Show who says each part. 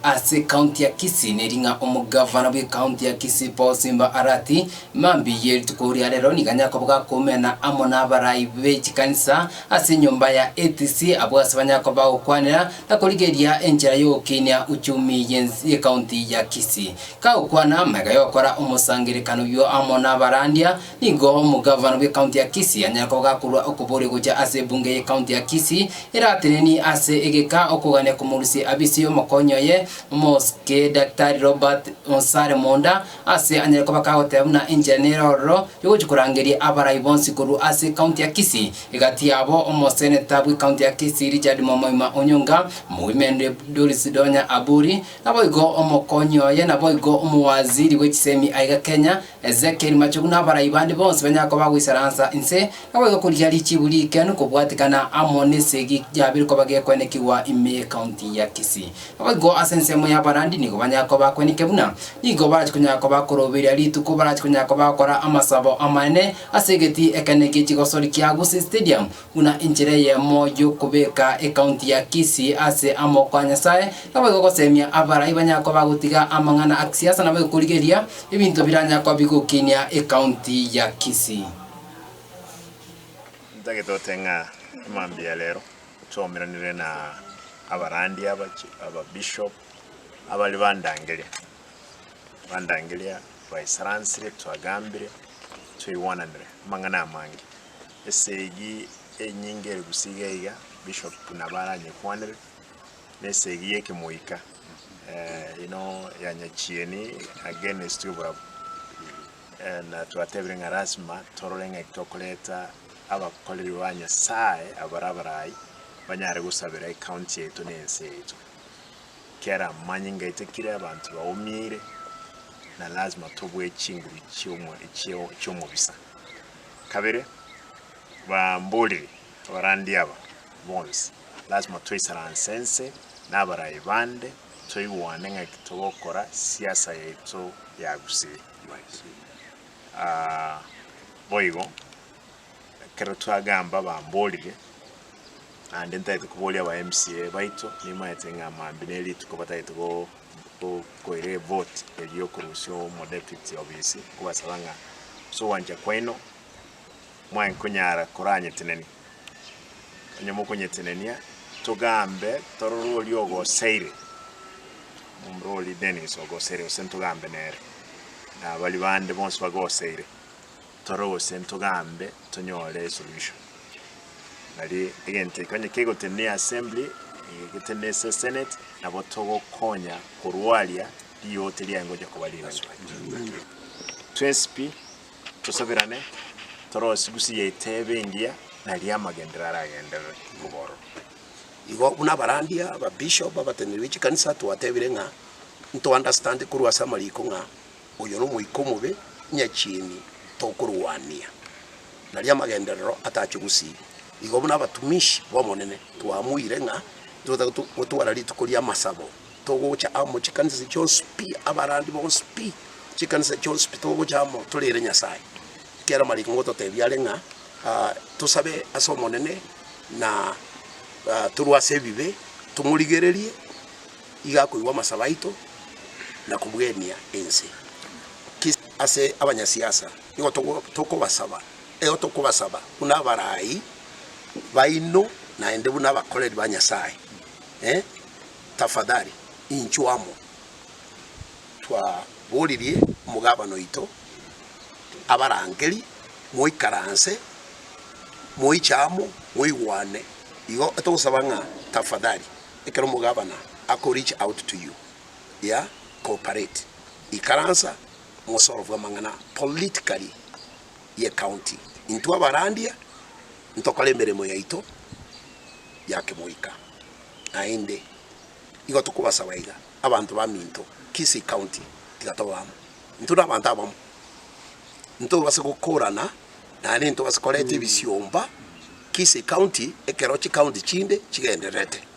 Speaker 1: Ase county ya Kisii neri ng'a omogavana bwe county ya Kisii Paul Simba Arati, mambia ye rituko ria rero nigo anyakoboga koumena amo n'abarai be chikanisa ase enyomba ya ATC abwo ase banyakoba gokwanera na korigeria enchera y'ogokinia uchumi ye county ya Kisii. Kagokwana amaiga yokora omosangererekano oyio amo n'abarandia Nigo omogavana bw'ekaunti ya Kisii anyare kogaa korwa okoboria gocha ase ebunge y'ekaunti ya Kisii eratenenie ase egeka okogania komorusia abisie omokonyi oye omosike Daktari Robert Onsare Monda ase anyare koba kagoteba buna enchera nere ororo yogochia korangeria abarai bonsi korwa ase ekaunti ya Kisii egati yabo omoseneta bw'ekaunti ya Kisii Richard Mwamoima Onyonga, omogwemende Doris Donya Aburi, naboigo omokonyi oye naboigo omowaziri bw'echisemi aiga Kenya Ezekieli mache buna abarai bande bonsi banyare koba goisaransa inse, na goika korigia richiibu rigikenu kobwatikana amo nesegi yabire koba gekwenekigwa ime County ya Kisii. Naboigo ase ensemo y'abarandi nigo banyare koba bakwenike buna nigo barache konyara koba koroberia rituko barache konyara koba gokora amasabo amanene ase egeti ekenene gie chigosori kia Gusii Stadium Buna enchera eyemo y'okobeka ekaunti ya Kisii ase amoko a Nyasae, naboigo gosemia abarai banyare koba bagotiga amang'ana a kisiasa naboigo korigeria ebinto biranyare koba bigokinia ekaunti ya Kisii. Ntake tote ng'a emambia ya rero nchomeranire na abarandi aba, ababishop, abare bandangeria, bandangeria baisaransire, twagambire, twaigwananire amang'ana amange. Esegi enyinge ere gusii iga iga bishop buna baranyekwanere, na esegi y'ekemoika eh, ino ya nyachieni against y'oborabu. Eh, na twatebire ng'a lasima torore ng'aki tokoreta abakoreri ba Nyasae abare abarai banyare gosabera ecounty yaito na ense yaito. Kera manyinga etekire abanto baumiire na lasima tobue chinguru chi'omo- chi'o- chi'omobisa. Kabere bamborire abarandia aba bonsi, Lasima twaisaranse ense na abarai bande, toigwane ng'aki togokora siasa yaito yagusire. Aa boigo, ekero twagamba bamborire, naende ntaete koboria aba MCA baito, nimaete ng'a mambia ne rituko bataete go. Gokoira evote eria yokorusia omodepite obisi, nkobasaba ng'a ase ogwancha kwaino mwaye nkonyara koranyetenenia. Onye mokonyetenenia, togambe torore oria ogoseire, omomura oria Dennis ogoseire, gose ntogambe nere, na baria bande bonsi bagoseire. tore gose ntogambe tonyore esolution. Nari egento eke onye kegotenena e assembly, egotenena ase senate, nabo togokonya korwa aria riote riaye ngocha koba rigachuka. Twensi pi tosabirane torose gusii ya etebo engiya nari amagenderero aragenderere kobororo. Igo buna abarandia, ababishop, abateneneri be chikanisa twatebire ng'a nto understand korwa ase amariko ng'a Oyo nomoika omobe, nyachieni tokorwania naria amagenderero atache gosiria. Igo buna abatumishi b'Omonene twamoire ng'a tibatabe gotwara rituko ri'amasabo, togocha amo chikanisa chionsi pi, abarandi bonsi pi, chikanisa chionsi pi, togocha amo toreere Nyasae. Ekiagera amariko ngototebia are ng'a tosabe ase Omonene na torwe ase ebibe, tomorigererie. Iga akoigwa amasaba aito na kobwenia ense. Ki ase abanyasiasa nigo tokobasaba? Eo tokobasaba buna abarai baino naende buna abakoreri ba Nyasae. Eh, tafadhali inchuo amo twaboririe omogabana oito abarangeri moikaranse moiche amo moigwane. Igo togosaba ng'a tafadhali. Ekero omogabana ako reach out to you, yeah, cooperate, ikaransa mosolve amang'ana politically ye county. Intwe abarandia ntokore emeremo yaito ya kemoika naende igo tokobasaba iga abanto baminto Kisii County tiga tobe amo. Intwe nabanto abamo ntobase gokorana naende ntobase koreta ebisiomba Kisii County ekero chicounty chinde chigendererete.